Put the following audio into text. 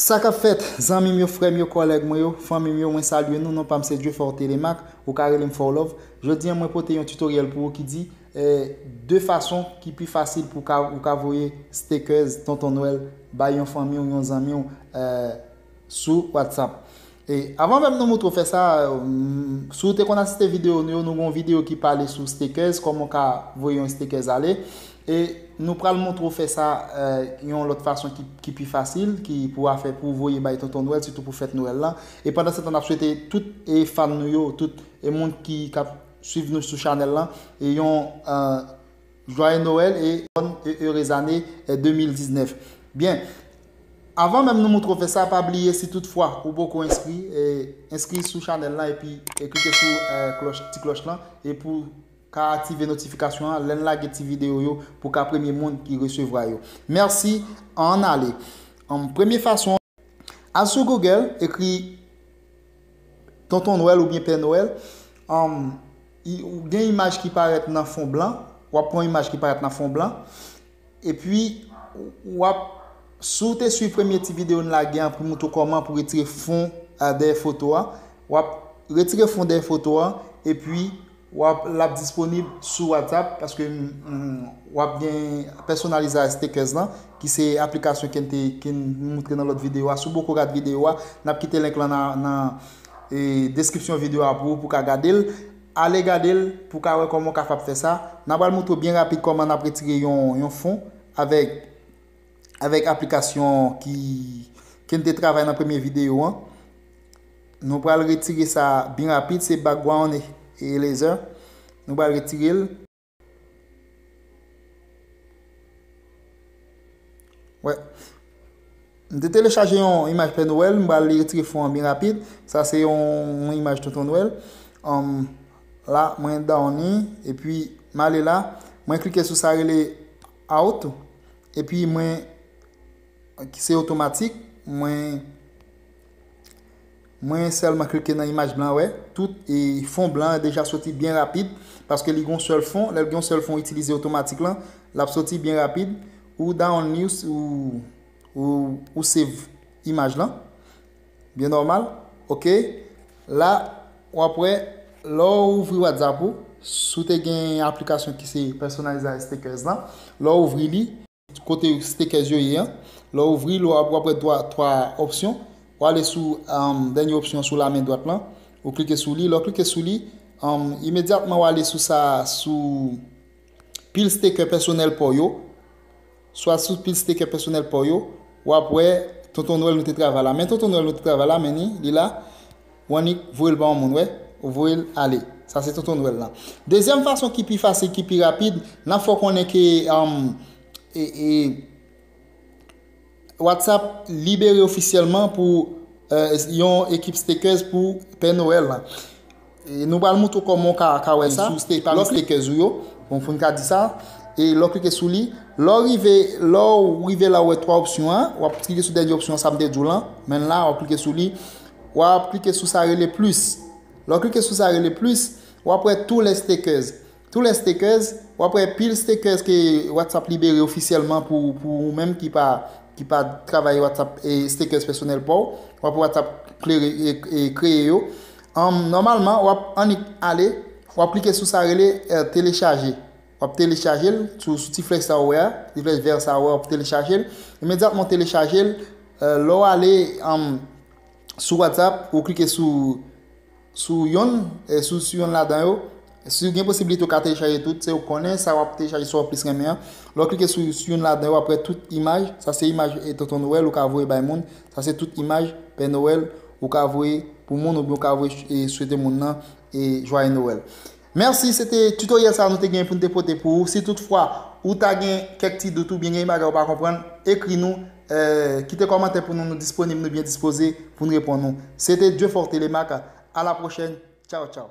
Sa kap fèt, zanmi m yo, frè m yo, kòlèg mwen yo, fanmi m yo, mwen salye nou, non pa m se Dieufort Thélémaque, ou ka rele m Forlove. Jodi an mwen pote yon tutoriel pou ou ki di, 2 fason ki pi fasil pou ou ka voye stekèz Tonton Nwèl bay yon fanmi w, yon zanmi w, sou WhatsApp. E avan menm nou moutre w fè sa, si w te konn asiste videyo nou yo, nou gen yon videyo ki pale sou stakers, kòman w ka voye yon stakers ale. E nou pral moutre w fè sa yon lòt fason ki pi fasil, ki pou w afè pou w voye bay Tonton Nwèl, sitou pou fèt Nwèl lan. E pandansetan n ap swete tout fan nou yo, tout moun ki k ap swiv nou sou chanèl lan yon Joyeux Noël et bonne et heureuse année 2019 Byen Avan menm nou moutre w fè sa pa bliye si tout fwa ou poko enskri enskri sou chanèl lan epi klike sou klòch ti klòch lan e pou ka aktive notifikasyon an lèn lage ti video yo pou ka premye moun ki resevwa yo mèsi an ale premye fason Al sou Google, ekri Tonton Nwèl oubyen Pè Nwèl, gen imaj ki parèt nan fon blan, wap pran yon imaj ki parèt nan fon blan, epi wap, si w te swiv premye ti videyo n lage an pou m montre w kòman pou retire fon dèyè foto a, wap retire fon dèyè foto a, epi Wap lap disponib sou WhatsApp paske wap gen personalize stickers lan ki se aplikasyon ken te ken moutre nan lòt video a si w poko gad video a nap kite link lan nan deskripsyon video a pou ou pou ka gade l ale gade l pou w ka wè kòman w kapab fè sa nan pral moutre w byen rapid kòman nap retire yon fon avèk Avèk aplikasyon ki ke n te travay nan premye videyo an. Nou pral retire sa byen rapid se background eraser nou pral retire l. Wè m te telechaje yon imaj pè noel m pral retire fon an byen rapid sa se yon imaj tonton noel la mwen downi epi m ale la mwen klike sou sa rele Out epi mwen ok se otomatik mwen mwen sèlman klike nan imaj blan wè tout e fon blan an deja soti byen rapid paske li gen yon sèl fon lèl gen yon sèl fon ou itilize otomatik lan lap soti byen rapid ou dawonl li ou ou save imaj lan Byen nòmal ok la wap wè lè w ouvri whatsapp ou si w te gen aplikasyon ki se pèsonalize a stekèz lan lè w ouvri li kote stekèz yo ye an lè w ouvri l wap wè 3 opsyon w ale sou dènye opsyon sou la men dwat lan ou klike sou li lè w klike sou li imedyatman w ale sou sa sou pil stekè pèsonèl paw yo swa sou pil stekè pèsonèl paw yo wap wè tonton nwèl nou te travay la men tonton nwèl nou te travay la men ni li la ou annik voyel ba yon moun wè ou voyel ale sa se tonton nwèl lan dezyèm fason ki pi fasil ki pi rapid nan fè w konnen ke e e WhatsApp libere ofisyèlman pou yon ekip stakers pou Pè Noel lan. Nou pral moutre w kòman w ka ka wè sa. Sou stake pami stakers ou yo, bon pou n ka di sa. E lè w klike sou li, lè w rive lè w rive la ou wè 3 opsyon an, w ap klike sou dènye opsyon an sa m te di w lan, menn la w ap klike sou li. W ap klike sou sa rele plus. Lè w klike sou sa rele plus, w ap wè tous les stakers. Tou lè stakers, wap wè pil stakers ke WhatsApp libere ofisyèlman pou ou menm ki pa ki pa travay WhatsApp e stakers pèsonèl paw, wap wè WhatsApp klere e kreye yo. An nòmalman wap annik ale, wap klike sou sa rele telechaje. Wap telechaje l sou sou ti flèch sa ou wè a, ti flèch vè sa ou wè a wap telechaje l. Imedyatman w telechaje l, lè w ale sou WhatsApp ou klike sou sou yonn sou sou yonn ladan yo si ou gen posibilite ou ka telechaje tout se ou konnen sa wap telechaje sa wap plis renmen an lè w klike sou sou yonn ladan yo wap wè tout imaj sa se imaj e tonton noel ou ka voye bay moun sa se tout imaj pè noel ou ka voye pou moun oubyen ou ka voye e swete moun nan e jwaye noel Mèsi, se te tutoriel sa nou te genyen pou nou te pote pou ou. Si tout fwa ou ta gen kèk ti dout ou byen gen yon bagay ou pa konprann, ekri nou, kite kòmantè pou nou, nou disponib, nou byen dispoze pou nou reponn ou. Se te Dieufortelemarc, a la prochèn, tchaw tchaw.